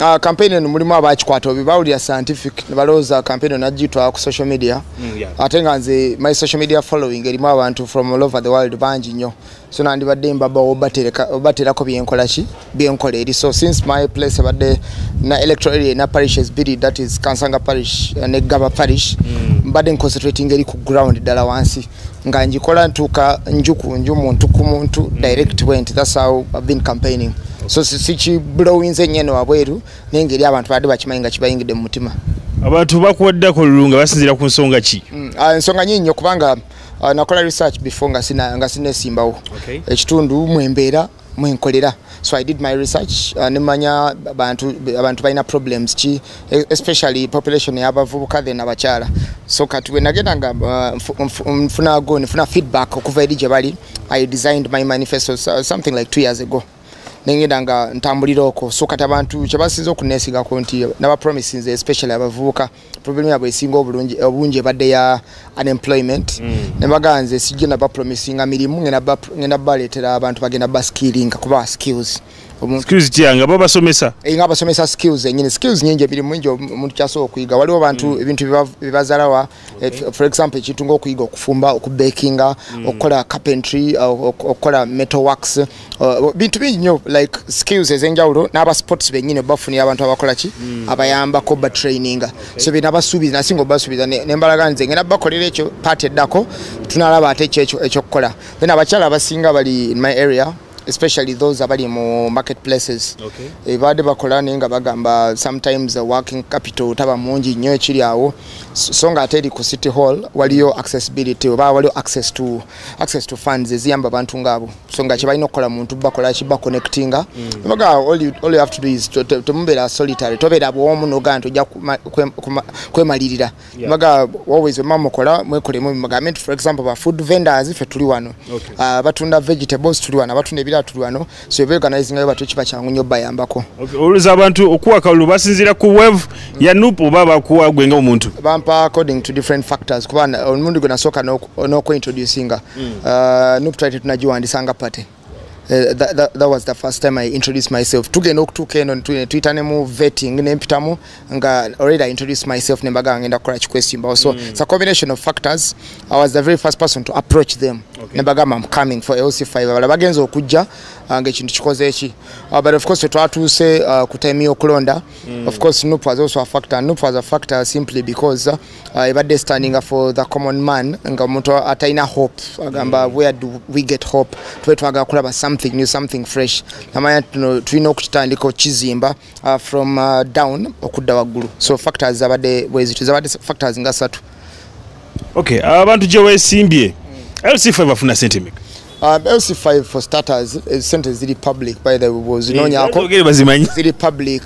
Uh, campaign eno mulimu abakikwata obi bawulira scientific nebalowooza campaign eno najitwala ku social media mm, yeah. ate nga nze my social media following erimu abantu from all over the world bangi nnyo so nandibadde mbaba obaterako byenkola ki byenkola eri so since my place ebadde na electoral area na parishes biri that is kansanga parish eh, ne gaba parish mm. mbadde mm. nconcentrating eri ku ground ddala wansi nga njikola ntuuka nju ku nju muntu ku muntu mm. direct went thats how ive been campaigning so sikiblowinze si nyene wabweru naye ngeri abantu badde bakimanyi nga kibayingidde mu mutima abantu bakuwaddeko lulu nga basinzira ku nsonga ki mm, ah, ensonga nyinyi nyo kubanga ah, nakola research before nga sinesimbawo ekitundu mwembeera mwenkolera so i did my research uh, nemanya abantu abantu balina problems ki e, especially population yabavubuka then abakyala so kati wenagenda nga uh, nfuna go nfuna feedback okuva eri gye bali i designed my manifesto uh, something like two years ago nengenda nga ntambulira okwo so kati abantu kyebasinza okunesigako nti nabapromisinze especially abavubuka problem yabwe esinga obulungi obungi ebadde ya unemployment mm. ne baganze sijje na bapromisinga mirimu ngena ba ngena baletera abantu bagenda ba skilling kuba skills skills kya nga baba somesa e eh, nga basomesa skills enyine skills nyingi biri mwingi omuntu kyaso okuyiga waliwo abantu mm. ebintu bibazala wa eh, okay. for example ekintu ngokuyiga okufumba okubakinga mm. okukola carpentry okukola metal works Uh, bintu bingi nyo like skills ezenjawulo n'aba sports benyini obafunira abantu abakola ki mm. abayambako ba traininga okay. so bina basuubiza nasinga obasuubiza nembalaga nze ngenda bakolera ekyo part eddako tunalaba ate ekyo ekyokukola then abakyala abasinga bali in my area especially those abali mu marketplaces okay. e, baade bakola naye nga bagamba sometimes uh, working capital taba mungi nnyo ekiri awo so nga ate eri ku city hall waliyo accessibility oba waliyo access to, access to funds eziyamba abantu ngaabo so nga kyebalina okukola muntu bakola ki baconnectinga mm. baga all you, all you have to do is temubeera solitary tobeera bwomu nogaa nti ojja kwemalirira baga always wema mukola mwekolemu mugambe nti for example ba food vendors ffe tuli wano ah, batunda vegetables tuli wano abatunda ebirala tuli wano so ebeorganizingayo batyo kiba kyangu nyo bayambako oluza abantu okuwa kalulu basinziira ku wave mm. ya nup oba bakuwa gwenga omuntu bampa according to different factors kuba omundi gwe nasooka onoku introducinga mm. uh, nup twali tetunagiwandisa nga party Uh, that, that, that was the first time I introduced myself. Tugenda okutuuka eno netuyita ne mu vetting ne mpitamu nga already I introduced myself ne mbaga ngenda kukola kikwesimbawo. So mm. it's a combination of factors. I was the very first person to approach them. Okay. Ne mbaga I'm coming for LC5. Bala bagenza okujja uh, nga ekintu kikoze eki. Uh, but of course twatuuse uh, ku time y'okulonda. Mm. Of course Nup was also a factor. Nup was a factor simply because uh, uh, ebadde standinga for the common man nga omuntu atalina hope agamba mm. where do we get hope tube twagala kulaba something new something fresh namanya tuno tulina okukitandika okukizimba uh, from uh, down okudda waggulu so factors zabadde bwezityo zabadde factors nga satu okay abantu uh, gyewesimbye mm. lcf bafuna sente meka Uh, LC5 for starters is eh, sente ziri public by the way bwozinonyako eh, ziri public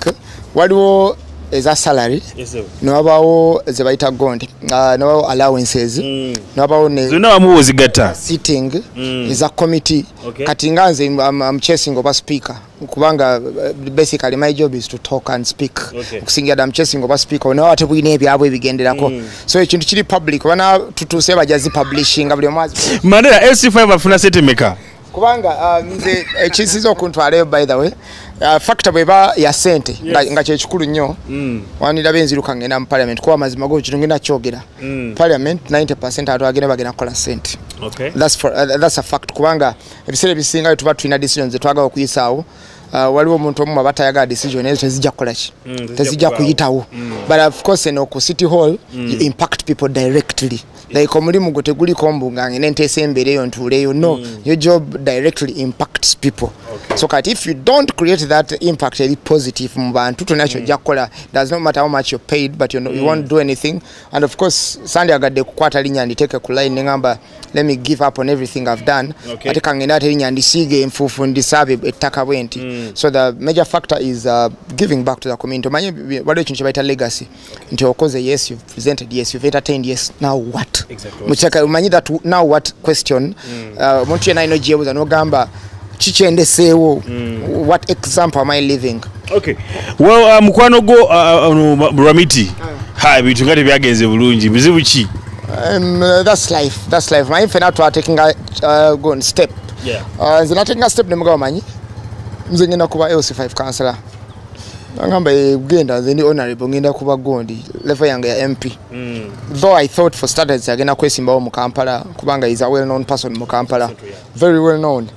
waliwo eza salary newabawo zebayita gond uh, newabawo allowances mm. newabawo nezonawamuwo zigatta sitting mm. eza committee okay. kati nga nze am, am chasing oba speaker kubanga eh, basically my job is to talk and speak okusingira dda muchesinga oba speak onawe ate bulina ebyabwe ebigenderako mm. so ekintu kiri public obana tutuuse baja zipublishinga buli omwazi mandera sc5 bafuna sente meka kubanga ah, nze ekisiza eh, okuntwalayo by the way ah, factor bweba ya sente nga kyekikulu nnyo mm. waniraba enziruka ngenda mu parliament kuba amazima go kino ngenda kyogera mm. parliament 90 atwagenda bagenda kukola sente uh, that's a fact kubanga ebiseera ebisinga tuba tulina decision zetwagala okuyisaawo uh, waliwo omuntu omu aba tayagala decision ezo tezijja kukolaki mm, tezijja kuyitawo mm. but of course eno ku city hall mm. you impact people directly like omulimu gwo teguliko mbu nga ngene nteesa embeera eyo ntuuleyo no your job directly impacts people so kati if you don't create that impact eri positive mu bantu tolina kyojja kukola does not matter how much you're paid but you, know, you won't do anything and of course sandi agadde kukwata linya nditeeke ku line neŋamba let me give up on everything i've done okay. ate kangende ate linya ndisiige enfuufu ndisaabe ettaka bwe nti mm. so the major factor is uh, giving back to the community omanye waliwo ekintu kye bayita legacy nti okoze yes you've presented yes you've entertained yes now what exactly. mukyeka omanyi that now what question mm. uh, omuntu uh, yena ino gyebuza nogamba kikyendeseewo mm. what example am i living okay well uh, mukwano gwo uh, uh, ramiti uh. ha ebintu nga tebyagenze bulungi bizibu ki um, that's life that's life maye fena twataking a uh, gon step yeah. uh, nze nataking a step nemugaba manyi nze ngenda kuba lc5 councilor nangamba eh, genda nze ndi honorable ngenda kuba gondi level yange ya mp mm. though i thought for starters agenda kwesimbawo mu kampala kubanga is a well known person mu kampala very well known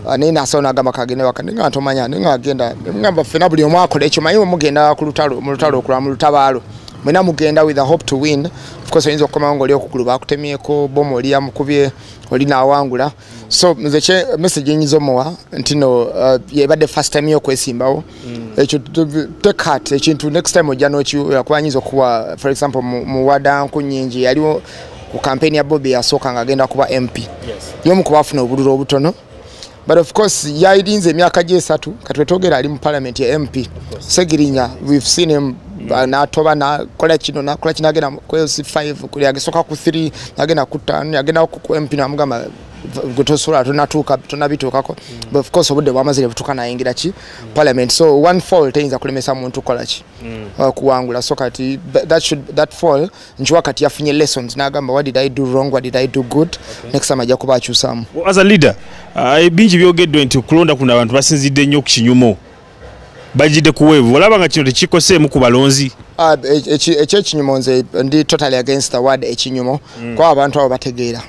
ah, naye nasawo nagamba kagende waka naye nga ntomanya naye nga agenda ngamba ffena buli omu akola ekyo manyi wemugenda mu lutalo okula mu lutabaalo mwena mugenda with a hope to win ofcourse oyinza okukomawo ngaoli okugulu bakutemyeko bomu oli yamukubye oli nawangula so nze message enyiza omuwa nti no uh, yebadde first time yo okwesimbawo mm. ekyo take heart ekintu next time ojja nokiyakwanyinza okuwa for example muwadanku nyingi yaliwo ku campaign ya bobi yasooka nga agenda kuba mp yomu kuba afuna obululu obutono but of course yayirinze emyaka gyesatu katwetogera ali mu parliament ya mp segirinya we've seen him natoba nakola kino nakola kino agenda kwezi 5 kuli agesoka ku 3 agenda ku 5 agenda ku mp namugamba tosobola tonatuuka tonabituukako mm. but of course obudde bwamaze nebutuuka nayingira ki mm. parliament so one fall teyinza kulemesa muntu kukola ki mm. uh, kuwangula so kati that should that fall nkiwa kati yafunye lessons nagamba what did i do wrong what did i do good okay. next time ajja kuba akyusaamu as a leader uh, bingi byogeddwe nti okulonda kuno abantu basinzidde nnyo ku kinyumo bajidde kuweevu olaba nga kino tekikoseemu ku balonzi ah, ekyekinyumo nze ndi totally against the word ekinyumo mm. kwa abantu abo bategeera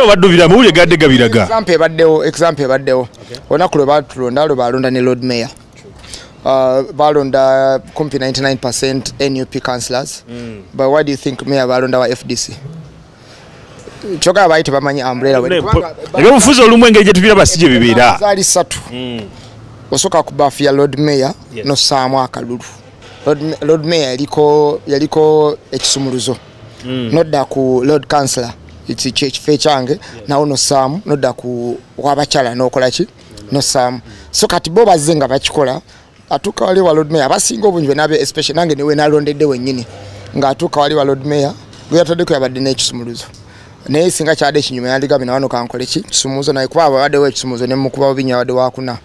obaddubira mawulire gadde gabiraga example ebaddewo example ebaddewo olunaku lwe batulonda lwe balonda ne lord mayor Uh, balonda kumpi 99 nup councilors mm. but why do you think mayor balonda wa fdc kyoka abayi tebamanyi umbrella we ebyobufuzi olumu engeri gye tubiraba si gye bibeera zaali ssatu hmm. osooka ku bafu ya lord mayor nosaamu akalulu lord mayor yaliko yaliko ekisumuluzo hmm. nodda ku lord councilor ekifo ekyange nawo nosaamu nodda ku wabakyala nokola ki nosaamu so kati bo bazze nga bakikola atuuka wali wa lord mayor abasinga obungi be nabe especially nange niwe nalondedde wennyini ng'atuuka wali wa lord mayor gwe yataddeko yabadde n'ekisumuluzo naye singa kyade ekinyuma yandigambye nawano kankole ki kisumuluzo naye kuba abaddewo ekisumuluzo ne mukuba bubinya abadde wakuna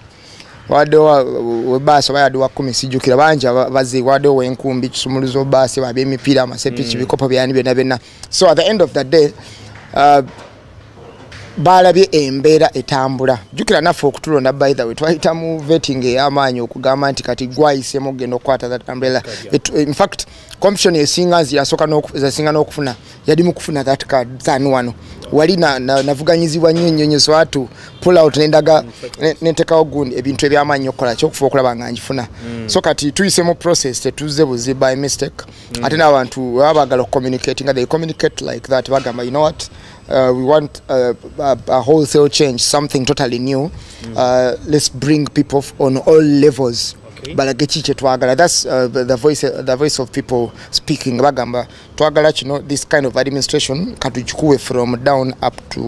wabaddewo webaasi oba yadde wakumi sijjukira bangi bazi wabaddewo wenkumbi kisumuluzo baasi babyemipiira amasepiki mm. bikopo byani byonna byonna so at the end of the day uh, baalabye embeera etambula jjukira naffe okutulonda by the way twayita mu vetting ey'amaanyi okugamba nti kati gwayisemu okugenda okukwata that umbrella infact commission esinga nzi yasinga n'okufuna yali mu kufuna that card than wano wali navuganyizibwa nnyo nnyo nyo swatu pull out nendaga nentekawo gundi ebintu eby'amaanyi okukola kyokufa okulaba nga ngifuna mm. so kati tuyise mu process tetuzze buzi by mistake mm. ate n'abantu baba bagala okucommunicati nga they communicate like that bagamba you know what uh, we want uh, a, a wholesale change something totally new mm. uh, let's bring people on all levels okay. balage ki kyetwagala thats uh, the, voice, uh, the voice of people speaking bagamba twagala kino this kind of administration katugikuwe from down up to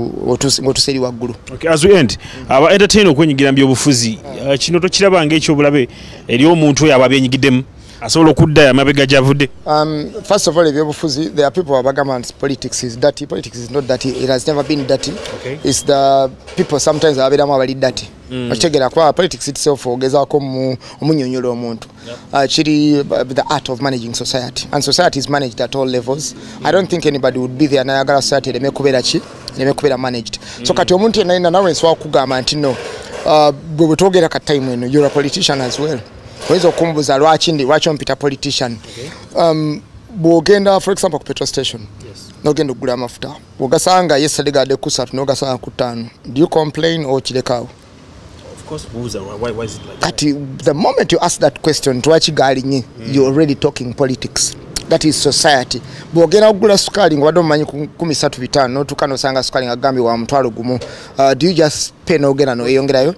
ngotuseri waggulu okay, as we end mm. aba entertain okwenyigira mu byobufuzi uh, kino tokiraba ngaekyobulabe eri omuntu oyo aba abyenyigiddemu asobola okudda amabega gyavude um, first of all ebyobufuzi there are people abagamba nti politics is dirty politics is not dirty it has never been dirty okay. is the people sometimes ababeeramu abali dirty mm. okitegera kuba politics itself ogezaako omunyonyola omuntu uh, kiri uh, the art of managing society and society is managed at all levels i don't think anybody would be there nayagala society ereme kubeera ki ereme kubeera managed so mm. kati omuntu yenayina nawe nsobola kugamba nti no uh, bwe bwetwogera ka time eno you're a politician as well oyinza okumbuza lwaki ndi lwaki ompita politician um, bwogenda for example ku petrol station nogenda okugula amafuta bwogasanga yesterday gade kusatu nogasanga ku ttaano do you complain or kirekaawo kati the moment you ask that question lwaki galinye mm. you already talking politics mm. that is society bwogenda kugula sukaali ngaobadde omumanyi kumi satu bitaano notuuka nosanga sukaali nga gambi wa mutwalo gumu uh, do you just pay nogenda noyeyongerayo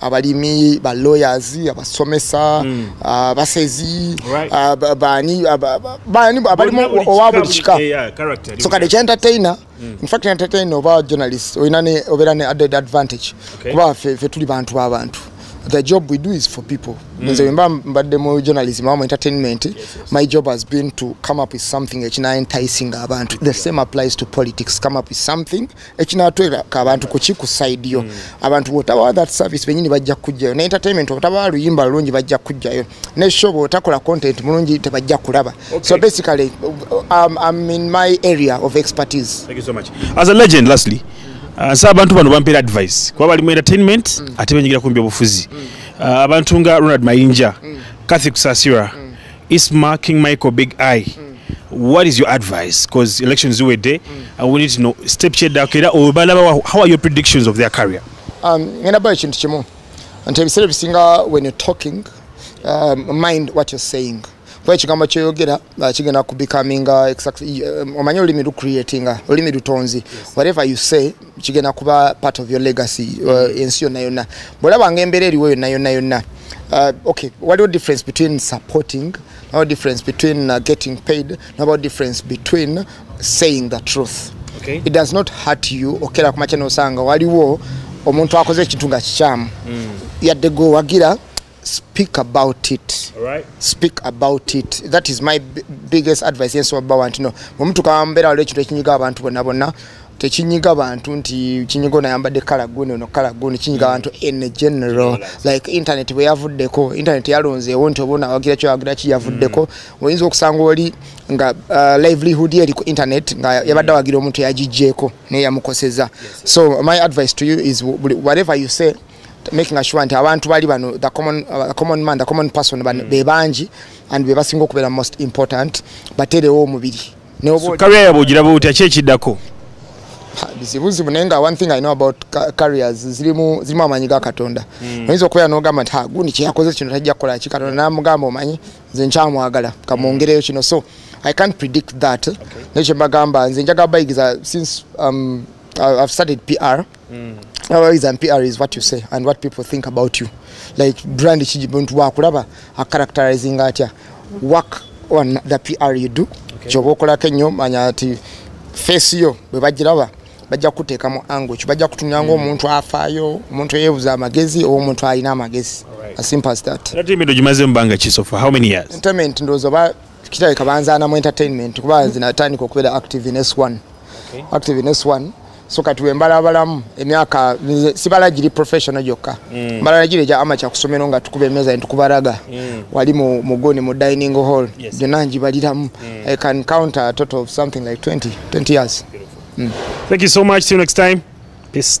abalimi ba lawyers abasomesa mm. abasezi bani bani abalimu owa buli kika so kade kya entertainer mm. in fact entertainer oba journalist oyina ne obera ne added advantage kuba fe, fe tuli bantu ba bantu the job we do is for people mm. nze mba mbadde mu journalism awamu entertainment yes, yes. my job has been to come up with something ekina enticing abantu the same applies to politics come up with something ekinatwera ka abantu kuki ku side yo mm. abantu botaba that service benyini bajja kujjayo na entertainment otaba luyimba lungi bajja kujjayo ne show botakola content mulungi tebajja kulaba okay. so basically um, I'm in my area of expertise thank you so much as a legend lastly uh, sa abantu bano bampera advice kuba bali mu entertainment mm. ate benyigira kumbi obufuzi mm. uh, abantu nga Ronald Mayinja mm. Kathy Kusasira mm. Isma King Michael Big Eye mm. what is your advice because elections you were there mm. I want you to know step chair da kera or balaba how are your predictions of their career um ngenda ba chintu chimu until we said singer when you're talking um, mind what you're saying kwa ekigambo kyoyogera uh, kigenda kubecominga uh, um, omanyi olulimi lucreatinga uh, olulimi lutonzi whatever you say kigenda kuba part of your legacy uh, mm. ensi yonna yonna bwolabanga embeera eriwo yonna yonna yonna uh, okay waliwo difference between supporting no difference between uh, getting paid no difference between saying the truth okay. it does not hurt you okera kumakya nosanga waliwo omuntu akoze ekintu nga kikyamu mm. yadde gwewagira speak about it right. speak about it that is my biggest advice yes oba want no omuntu kambera wale ekintu ekinyiga abantu bonna bonna tekinyiga abantu nti kinyiga onayambadde kala guni ono kala guni kinyiga abantu mm. in general like internet bwe yavuddeko internet yalonzeewo nti oba onawagira kyowagira ki yavuddeko mm. oyinza okusanga oli nga uh, livelihood eri ku internet nga mm. yabadde awagira omuntu yagijjeeko naye yamukoseza so my advice to you is whatever you say mm. making sure nti abantu bali bano the common, uh, the common man the common person mm. be bangi and be basinga okubeera most important baterewo omubiri career yabwe ogiraba otya ki ekiddako bizibuzibu naye nga one thing i know about carriers zirimu zirimu amaanyi ga katonda mm. oyinza okubeera n'ogamba nti ah, gundi kyeyakoze kino tajja kukola ki katonda namugamba omanyi nze nkyamwagala kamwongereyo kino so i can't predict that okay. naye kyembagamba nze njagala bayigiza since um, i've started pr Mm. Always and PR is what you say and what people think about you. Like brand chiji buntu wa kulaba a characterizing atya work on the PR you do. Okay. Chobo kula kenyo manya ati face yo bebajiraba bajja kuteka mu angle kyo bajja kutumya ngo mm. omuntu afayo omuntu yebuza amagezi o omuntu alina amagezi right. as simple as that. That mean do you maze mbanga chiso for how many years? Entertainment ndozo ba kitabika banza na mu entertainment kuba mm. zinatandika okubera active in S1. Okay. Active in S1. so kati wembalabalamu emyaka sibala giri professional gyokka mm. mbalala giri egya amaca kusomero nga tukuba emeza ntukubaraga mm. wali mugoni mu dining hall gyonna ngibaliramu mm. i can counter a total of something like 20, 20 years mm. thank you so much till next time peace